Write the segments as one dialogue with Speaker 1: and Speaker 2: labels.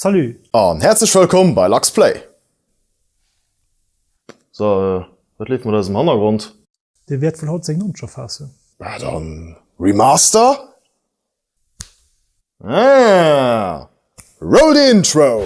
Speaker 1: Salut! An häerzlech
Speaker 2: wëllkomm bei Lux Play! So, wat leeft mat eisem Hannergrond? Dee wäert wuel haut
Speaker 1: seng nonsch erfaassen. Ah, dann
Speaker 2: Remaster? Ah! Roll the intro!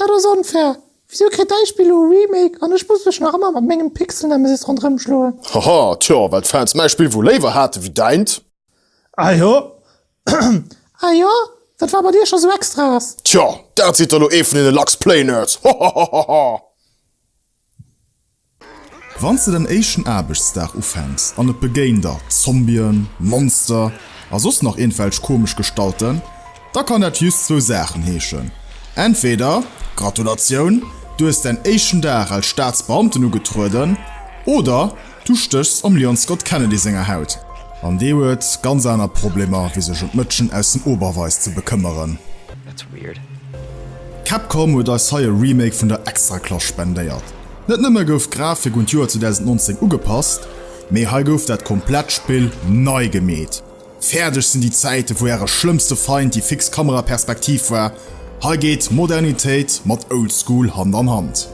Speaker 1: Dat ass onfair! Wisou kritt däi Spill elo e Remake an ech muss mech nach ëmmer mat mengem Pixelnemesis ronderëm schloen? Haha, tjo, well
Speaker 2: d'Fans mäi Spill wuel léiwer haten wéi däint. Ahjo,
Speaker 1: ahjo, wat war bei dir scho sou extraes? Tjo, dat sidd
Speaker 2: der elo ee vun deene Lachs-Play-Nerds! Hohohohoho!
Speaker 3: Wann s de den éischten Aarbechtsdag ufänks an et begéint der Zombien, Monster a soss nach iergendwelch komesch Gestalten, da kann dat jhust zwou Saachen heeschen, Entweder, Gratulatioun, du hues däin éischten Dag als Staatsbeamten ugetrueden, oder, Du stéchs am Leon Scott Kennedy senger Haut an dee huet ganz aner Problemer wéi sech ëm d'Mëtschen aus dem Oberweis ze bekëmmeren.
Speaker 4: Capcom
Speaker 3: huet eis hei e Remake vun der Extraklass spendéiert. Net nëmme gouf d'Grafik un d'Joer 2019 ugepasst, mee hei gouf dat komplett Spill nei gemeet. Fäerdeg sinn déi Zäite vu äre schlëmmste Feind, déi fix Kameraperspektiv war. Hei geet Modernitéit mat Old School Hand an Hand.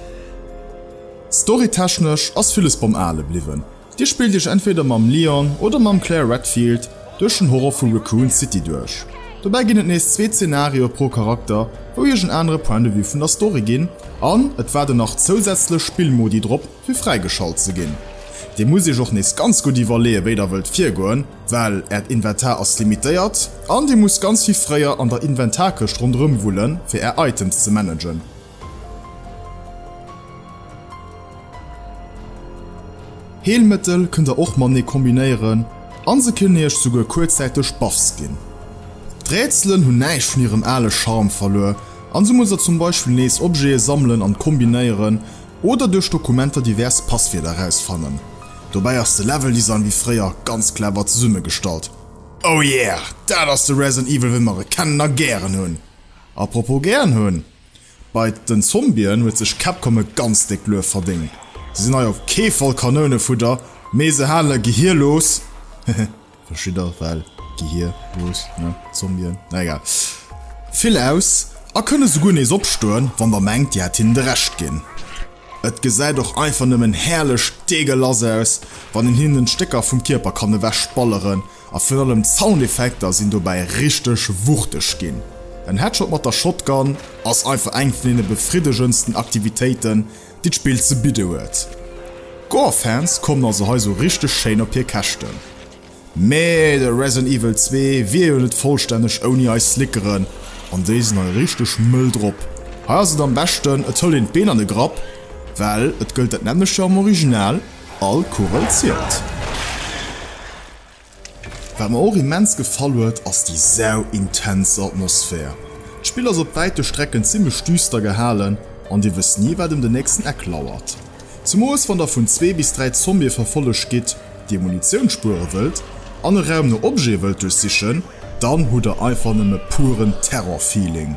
Speaker 3: Storytechnesch ass villes beim Ale bliwwen, Dir spillt Iech entweder mam Leon oder mam Claire Redfield duerch den Horror vu Raccoon City duerch. Dobäi ginn et nees zwee Zenario pro Charakter, wou Iech en anere Point de Vue vun der Story ginn, an et waarden nach zousätzlech Spillmodi drop fir fräigeschalt ze ginn. Dir musst Iech och nees ganz gutt iwwerleeë wéi der wëllt virgoen, Well Äert Inventar ass limitéiert an Dir musst ganz vill fréier an der Inventarkëscht ronderëm wullen, fir Är Items ze managen. Heelmëttel kënnt Der och matenee kombinéieren an se kënnen Iech souguer kuerzzäiteg Buffs ginn. D'Rätselen hunn näischt vun hirem ale Charme verluer an sou musst Der zum Beispill nees Objete sammelen an kombinéieren, Oder duerch Dokumenter divers Passwierder erausfannen. Dobäi ass de Level Design wéi fréier ganz clever zesummegestallt. Oh yeah! Dat ass de Resident Evil wéi mer e kennen a gären hunn! Apropos gären hunn, bei den Zombien huet sech Capcom e ganz déckt Luef verdéngt. Se sinn hei op kee Fall Kanounefudder, mee se hale Gehir los. Hehe. Wëscht jidder well Gehir, Luucht, ne? Zombien? Na egal. Vill aus a kënne souguer nees opstoen, wann der mengt dir hätt hinnen de Recht ginn. Et gesäit och einfach nëmmen herrlech deegelass aus, wann een hinnen Stécker vum Kierper kann ewech balleren a virun allem d'Soundeffekter sinn dobäi richteg wuchteg ginn. En Headshot mat der Shotgun ass einfach eng vun deene befriddegendsten Aktivitéiten, déi d'Spill ze bidde huet. D'Gore-Fans kommen also hei sou richteg schéin op hir Käschten. Mee de Resident Evil 2 wier jo net vollstänneg ouni eis Slickeren an déi sinn hei richteg mëll drop. Hei ass et am beschten et hëlt een d'Been an de Grapp, well et gëllt dat nämmlechte am Original, all Kugel zielt. Wat mer och immens gefall huet ass déi sau intens Atmosphär. D'Spill ass op wäite Strecken zimmlech düster gehalen an dir wësst ni wat em den nächsten Eck lauert. Zemoos wann der vun zwee bis dräi Zombie verfollegt gitt, dir Munitioun spuere wëllt an e Raum no Objete wëllt duerchsichen, dann hutt der einfach nëmme puren Terror-Feeling.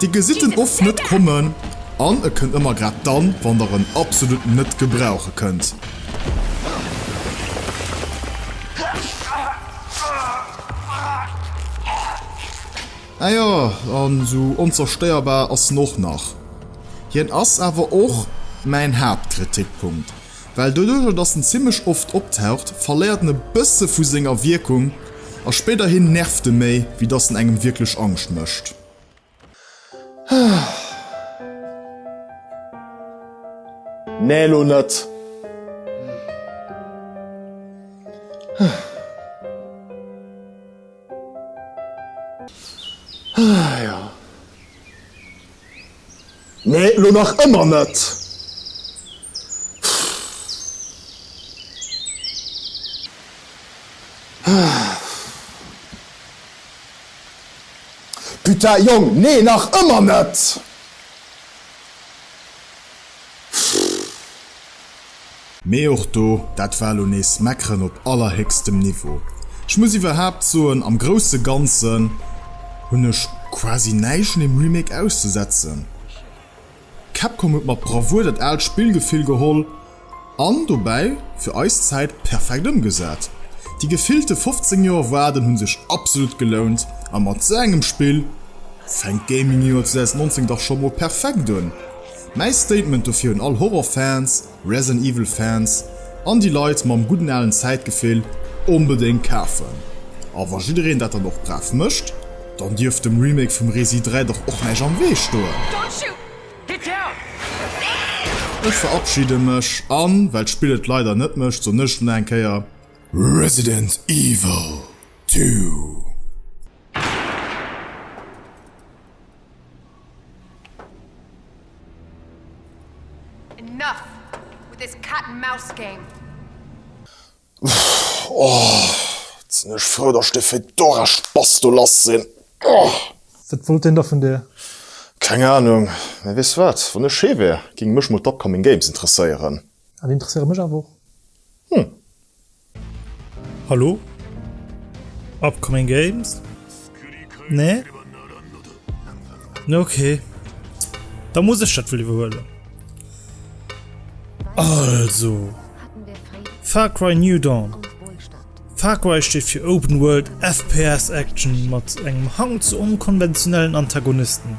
Speaker 3: Dir gesitt en oft net kommen an e kënnt ëmmer grad dann, wann der en absolut net gebrauche kënnt. Ah jo, an sou onzerstéierbar ass en och nach. Hien ass awer och mäin Haaptkritikpunkt, well doduercher dass en zimmlech oft optaucht, verléiert en e bësse vu senger Wierkung a spéiderhin nervt e méi wéi dass en engem wierklech Angscht mécht.
Speaker 2: Nee elo net. Nee elo nach ëmmer net. Putain Jong, nee nach ëmmer net!
Speaker 3: Mee och do, dat war lo nees meckeren op allerhéchstem Niveau. Ech muss iwwerhaapt soen, am grousse Ganzen hunn ech quasi näischt un dem Remake auszesetzen. Capcom huet mat Bravour dat aalt Spillgefill geholl an dobäi fir eis Zäit perfekt ëmgesat. Déi gefillte 15 Joer Waarden hu sech absolut gelount a mat sou engem Spill fänkt d'Gaming-Joer 2019 dach scho mol perfekt un. Mäi Statement dofir un all Horror-Fans. Resident Evil Fans an déi Leit mam gudden alen Zäitgefill onbedéngt kafen. A wa jiddereen dat dann och brav mécht, dann dierft dem Remake vum Resi 3 dach och näischt am Wee stoen. Ech verabschide mech an well d'Spill et leider net mécht, soen ech nach eng Kéier Resident Evil 2!
Speaker 5: Enough with
Speaker 2: this cat and mouse game! Ohh, sin ech frou dass ech dee Fedora Spass do lass sin! Ohh! Wat wollt deen
Speaker 1: da vun dir? Keng Ahnung,
Speaker 2: mee weess du wat, wann ech hee wär, ging mech mol d'Upcoming Games interesséieren. Ah, déi interesséiere mech
Speaker 1: awer och. Hm.
Speaker 4: Hallo? Upcoming Games? Nee? Ne okay. Da muss ech dat iwwer huelen. Also Far Cry New Dawn. Far Cry steet fir Open World FPS Action mat engem Hang zu onkonventionellen Antagonisten.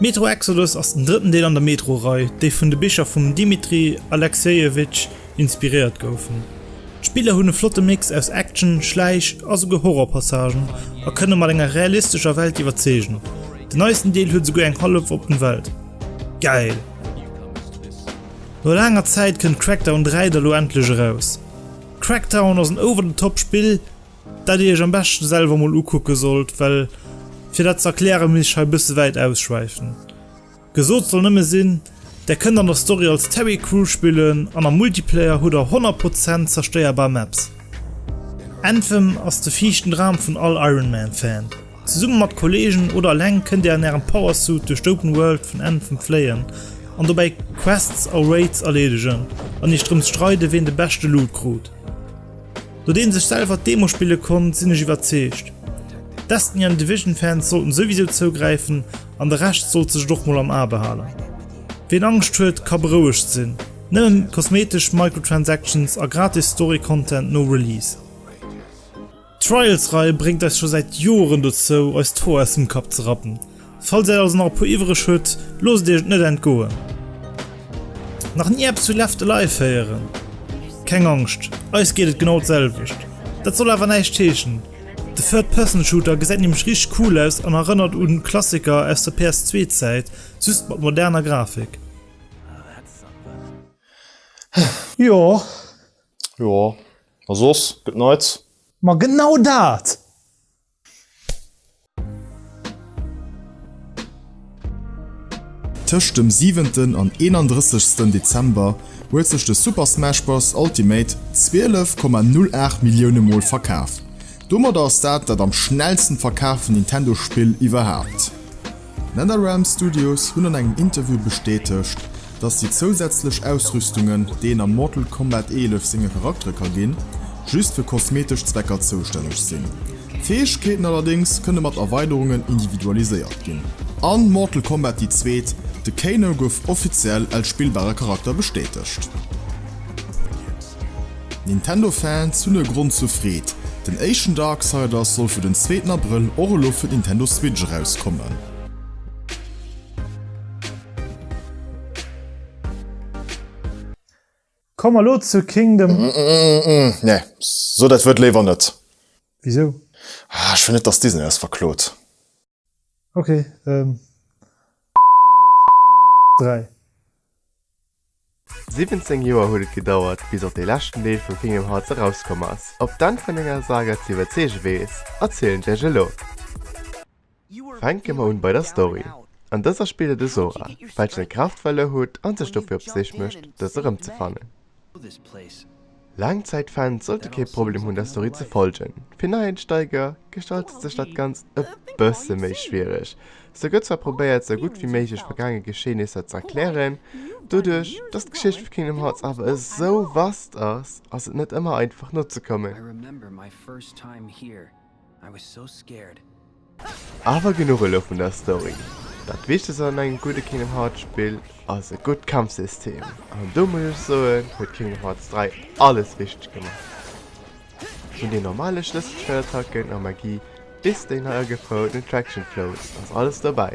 Speaker 4: Metro Exodus ass den drëtten Deel an der Metro-Rei, déi vun de Bicher vum Dmitri Alexejewitsch inspiréiert goufen. D'Spiller hunn e flotte Mix aus Action, Schläich a souguer Horror-Passagen a kënne mat enger realistescher Welt iwwerzeegen. Den neisten Deel huet souguer eng hallef oppen Welt. Geil! No laanger Zäit kënnt Crackdown 3 da lo endlech eraus. Crackdown ass en over-the-top Spill, Dat dir iech am beschten selwer mol ukucken sollt, well fir dat ze erklären misst ech hei bëssen wäit ausschwäifen. Gesoot soll nëmmen sinn, der kënnt an der Story als Terry Crew spillen an am Multiplayer hutt der 100 Prozent zerstéierbar Maps. Anthem ass de viischten Dram vun all Iron Man Fan. Zesummen mat Kollegen oder eleng kënnt dir an ärem Power Suit duerch d'Open World vun Anthem fléien an dobäi Quests a Raids erleedegen an iech drëms streiden ween de beschte Loot krut. No deem sech selwer d'Demo spille konnt, sinn ech iwwerzeegt, Destiny an Division Fans sollten souwisou zougräifen an de Rescht sollt sech et och mol am A behalen. Ween Angscht huet ka berouegt sinn, nëmmen kosmetesch Microtransactions a gratis Story Content no Release. D'Trials Rei bréngt eis scho säit Joeren dozou eis d'Hoer aus dem Kapp ze rappen Falls äert also nach e puer iwwreg hutt, loosst iech et net entgoen! Nach ni eppes vu Left Alive héieren? Keng Angscht, eis geet et genau d'selwecht. Dat soll awer näischt heeschen, de Third Person Shooter gesäit nämlech richteg cool aus an erënnert un Klassiker aus der PS2 Zäit, just mat moderner Grafik.
Speaker 1: Jo,
Speaker 2: jo, a soss gëtt neits? Ma genau
Speaker 1: dat!
Speaker 3: Tëscht dem 7 an 31 Dezember huet sech de Super Smash Bros. Ultimate 12,08 Millioune Mol verkaf. Domadder ass dat dat am schnellsten verkaaften Nintendo-Spill iwwerhaapt. D'Netherrealm Studios hunn an engem Interview bestätegt, dass déi zousätzlech Ausrüstungen, déi een am Mortal Kombat 11 senge Charaktere ka ginn, just fir kosmetesch Zwecker zoustänneg sinn. D'Fäegkeeten allerdéngs kënne mat Erweiderungen individualiséiert ginn. A Mortal Kombat déi zweet, de Kano gouf offiziell als spillbare Charakter bestätegt. Nintendo Fans hunn e Grond zur Freed, den éischten Darksiders soll fir den zweeten Abrëll och elo fir d'Nintendo Switch erauskommen.
Speaker 4: Komme mer elo zu Kingdom. Nee,
Speaker 2: so dat Wuert léiwer net. Wisou?
Speaker 4: Ech wëll
Speaker 2: net dass Disney eis verklot. Ok,
Speaker 4: ähm,
Speaker 6: kommen elo zu Kingdom Hearts 3. 17 Joer huet et gedauert, bis och dee leschten Deel vu Kingdom Hearts erauskomm ass. Op d'Enn vun enger Saga ze iwwerzeege weess, erzielen ech iech elo. Fänke mer un bei der Story. An dëser spillt et e Sora, welchen e Kraaftwell erhutt an sech dofir op d'Sich mécht, dës erëmzefannen. Laangzäitfans sollte kee Problem hunn der Story ze follgen. Fir Neiensteiger gestaltet sech dat Ganzt e bësse méi schwiereg. Se gëtt zwar probéiert sou gutt wéi méiglech vergaange Geschehnisser ze erklären, doduerch dass d'Geschicht vu Kingdom Hearts awer esou vast ass, ass et net ëmmer einfach nozekommen. I was so scared. Awer genuch elo vun der Story. Dat wichtegst an engem gudde Kingdom Hearts Spill ass e gutt Kampfsystem, an do muss ech soen huet Kingdom Hearts 3 alles richteg gemaach. Vun den normale Schlësselschnell-Attacken a Magie bis déi nei agefroueren Attraction Floats ass alles dobäi.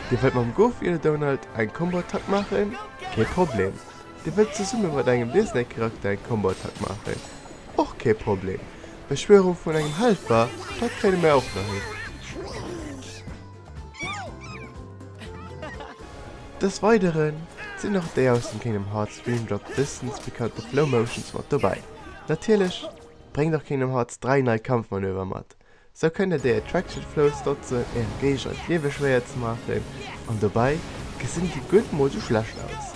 Speaker 6: Dir wëllt mam Goofy oder Donald eng Combo-Attack maachen? Kee Problem. Dir wëllt zesumme mat engem Disney-Charakter eng Combo-Attack maachen? Och kee Problem. Beschwörung vun engem Helfer, dat kréien mär och nach hin. Des Weideren sinn och déi aus dem Kingdom Hearts Dream Drop Distance bekannte Flow Motions mat dobäi. Natierlech bréngt och Kingdom Hearts 3 nei Kampfmanöver mat. Sou kënnt dir déi Attraction Flows notzen äre Géigner d'Liewe schwéier ze maachen an dobäi gesinn déi Gutt mol sou schlecht aus.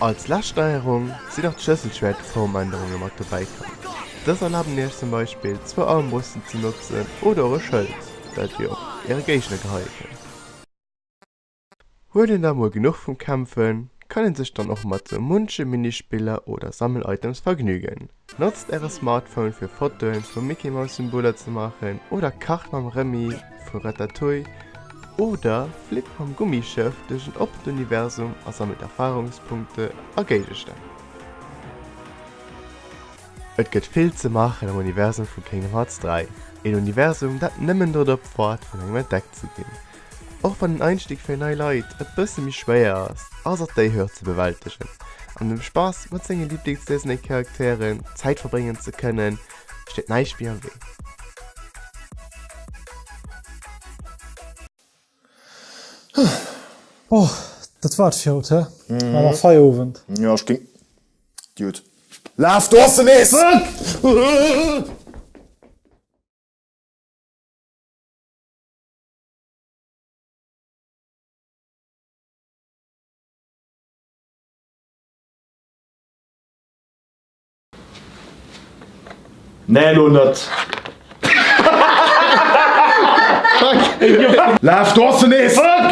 Speaker 6: Als lescht Steierung si nach d'Schlësselschwäert-Formännerunge mat dobäi komm. Dës erlaben iech zum Beispill zwou Armbrüsten ze notzen oder och e Schëld, dat dir op äre Géigner geheie kënnt. Huet een da mol genuch vum Kämpfen, kann een sech dann och mat sou munche Minispiller oder Sammel-Items vergnügen. Notzt äre Smartphone fir Fotoen vu Mickey-Maus-Symboler ze maachen oder kacht mam Remy vu Ratatouille oder flippt mam Gummischëff duerch en oppent Universum a sammelt Erfarungspunkte a Géigestänn. Et gëtt vill ze maachen am Universum vu Kingdom Hearts 3, een Universum dat nëmmen drop waart vun engem entdeckt ze ginn. Och wann den Einstieg fir nei Leit e bësse méi schwéier ass, ass et déi Hürd ze bewältegen an dem Spass mat senge Lieblingsdisney-Charakteren Zäit verbréngen ze kënnen, steet näischt méi am Wee.
Speaker 4: Oh, dat war et fir haut, hä? Maa mer Feierowend. Jo, ech géing.
Speaker 2: Dude, laf! Do ass en nees! Nee elo net! Laf, do ass se nees! Fuck!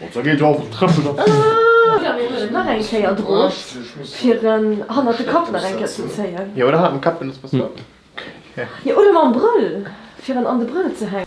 Speaker 2: Bon, da geet och d'Trëppel op d'Bühn. Jo, mir huelen
Speaker 7: nach eng Kéier drop, fir en hannert de Kapp nach eng Kéier ze zéien. Jo, oder hannert dem Kapp, wann et
Speaker 6: besser
Speaker 7: ass. Jo, oder
Speaker 6: mam
Speaker 7: Brëll,
Speaker 6: fir en
Speaker 7: an de Brëll
Speaker 6: ze
Speaker 7: hänken.